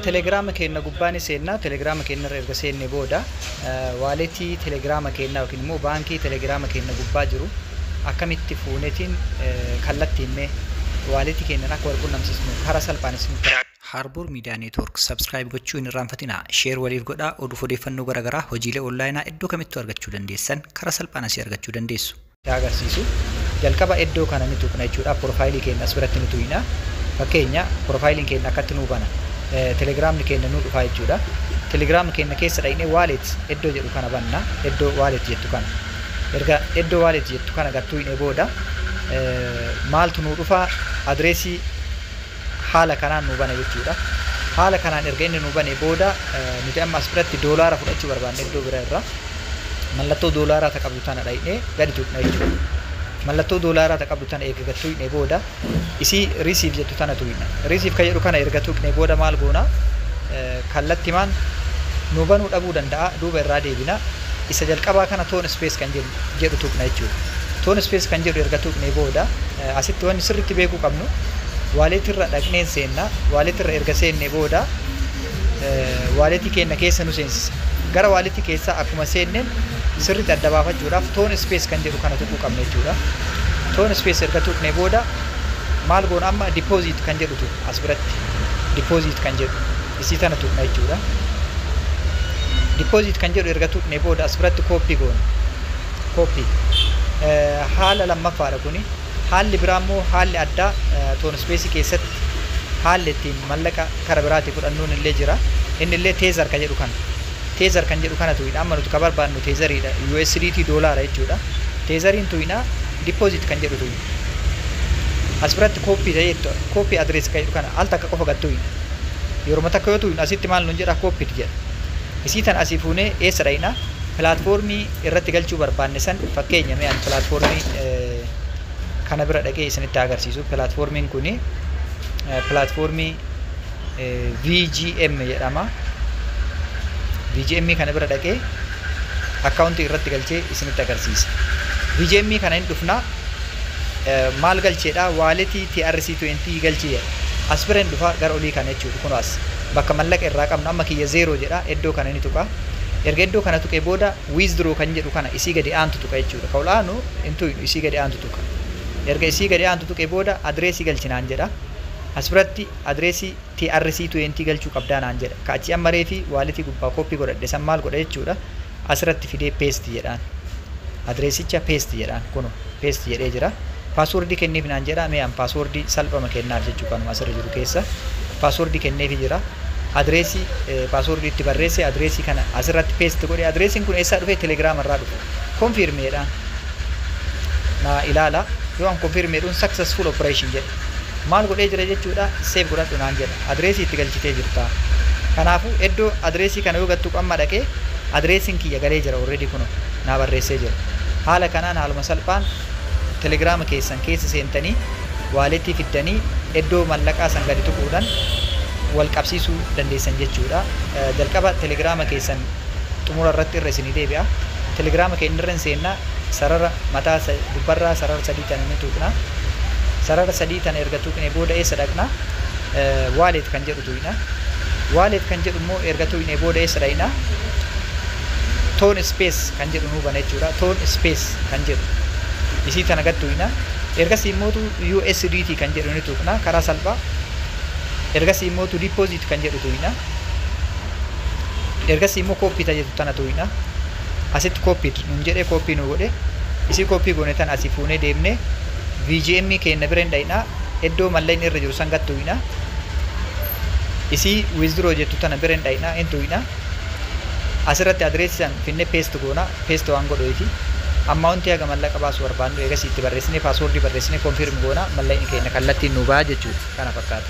Telegiraama keenna gubbaa ni seenna. Telegiraama keennarra erga seenne booda waaletii telegiraama keennaa yookiin immoo baankii telegiraama keenna gubbaa jiru akkamitti fuunetiin kallattiin mee waaletii keennan akka wal qunnamsiisnu karaa salphaan isinitti Harbour Media Network subscribe gochuu hin irraanfatinaa. Share waliif godhaa. Oduuf odeeffannoo gara garaa, hojiilee onlaayinaa iddoo kamittuu argachuu dandeessan karaa salphaan asii argachuu dandeessu. yaa agarsiisu. Jalqaba eddoo kana ni tuqna jechuudha. Profile keenna as biratti ni tuyna. Fakkeenya profile keenna akkatti nuu bana. Telegram keenna nuu dhufaa jechuudha. Telegram keenna keessa dhayne wallet eddoo jedhu kana banna. Eddoo wallet jettu kana. Erga eddoo wallet jettu kana gad tuyne booda maaltu nuu dhufa adreesii haala kanaan nuu bana jechuudha. Haala kanaan erga inni nuu banee booda nuti amma as biratti doolaara fudhachuu barbaanne iddoo bira irra mallattoo doolaaraa ta qabdu tana dhayne gadi tuqna jechuudha. Mallattoo doolaaraa ta qabdu tana eega gad tuqne booda isii receive jettu tana tuqna. Receive ka jedhu kana erga tuqne booda maal goona kallattimaan nuu banuu dhabuu danda'a duuba irraa deebina. Isa jalqabaa kana tone space kan jennu. jedhu tuqna jechuudha. Toon space kan jedhu erga tuqnee booda asitti wanni sirriitti beekuu qabnu waaleetii irra dhaqneen seenna. Waaleetii irra erga seennee booda waaleetii keenya keessa nu seensisa. Gara waaleetii keessaa akkuma seenneen sirriitti adda baafachuudhaaf toon space kan jedhu kana tuquu qabna jechuudha. Toon space erga tuqnee booda maal goona amma deposit kan jedhutu as biratti deposit kan jedhu. Isii tana tuqna jechuudha. Deposit kan jedhu erga tuqne booda as biratti copy goona. Copy. Haala lammaffaadha kuni. Haalli biraa immoo haalli addaa toon ispeesii keessatti haalli ittiin mallaqa kara biraatii fudhannuun illee jira. Inni illee teezar kan jedhu kana. Teezar kan jedhu kana tuqna. Amma nuti ka barbaadnu teezariidha. USDT doolaara jechuudha. Teezariin tuqna. Deposit kan jedhu tuqna. As biratti copy ta'ee copy address kan jedhu kana al takka qofa gad tuqna. Yeruma takka yoo tuuynu asitti maal nuun jedha copied jedha. Isii tana asii fuunee eessa dhayna? Platform irratti galchuu barbaanne san fakkeenya mee ani platform kana bira dhaqee isinitti haa agarsiisu. Platformiin kuni platform VGM jedhama. VGM kana bira dhaqee akkaawuntii irratti galchee isinitti agarsiisa. VGM kana hin dhufna maal galcheedha waaletii TRC20 galchii jedha as bireen dhufa gara olii kana jechuudha kun as bakka mallaqa irraa qabnu amma kiyya zeeroo jedha iddoo kana ni tuqa erga iddoo kana tuqee booda withdraw kan jedhu kana isii gadi aantu tuqa jechuudha ka ol'aanu hin tuqnu isii gadi aantu tuqa erga isii gadi aantu tuqee booda adireesii galchinaan jedha as biratti adireesii TRC20 galchuu qabdaa naan jedha ka achi amma reefi waaletii gubbaa kooppii godhadhe san maal godha jechuudha Asirratti fidee paste jedhaan. Addressicha paste jedhaan. Kuno paste jedhee jira. Password kenniif naan jedha. Mee an password salphama kennaaf jechuu kanuma asirra jiru keessa. Password kenneefi jira. Address password itti barreesse address kana asirratti paste godhe. Addressin kun eessaa dhufe? Telegram irraa dhufe. Confirm jedhaan. Na ilaala. Yoo an confirm jedhuun successful operation jedhe. Maal godhee jira jechuudha? Save godhadhu naan jedha. address itti galchitee jirta kanaafu eddo address kana yoo gad tuqu amma dhaqee addressin kiyya galee jira already kuno naa barreessee jira haala kanaan haaluma salphaan telegram keessan keessa seentanii wallet fiddanii eddo mallaqaa san gadi tuquudhan wal qabsiisuu dandeessan jechuudha jalqaba telegram keessan xumura irratti irra isinii deebi'a telegram keenya irra hin seenna sarara mataa gubbarraa sarara sadii tana ni tuqna sarara sadii tana erga tuqne booda eessa dhaqna wallet kan jedhu tuyna wallet kan jedhu immoo erga tuyne booda eessa dhayna ton space kan jedhu nuu bana jechuudha ton space kan jedhu isii tana gad tuyna ergasii immoo USDT kan jedhu ni tuqna karaa salphaa ergasii immoo deposit kan jedhu tuyna ergasii immoo copy ta jedhu tana tuyna asitti copied nuun jedhee copy nu godhe isii copy goone tan asii fuunee deemnee VGM keenna bira hin dhayna eddoo mallayni irra jiru san gad tuyna isii withdraw jettu tana bira hin dhayna hin tuyna asirratti address san finne paste goona paste waan godhoyfi amount haga mallaqa baasu barbaannu eegasii itti barreessine password barreessine confirm goona mallayni keenya kallattiin nuu baha jechuudha kana fakkaata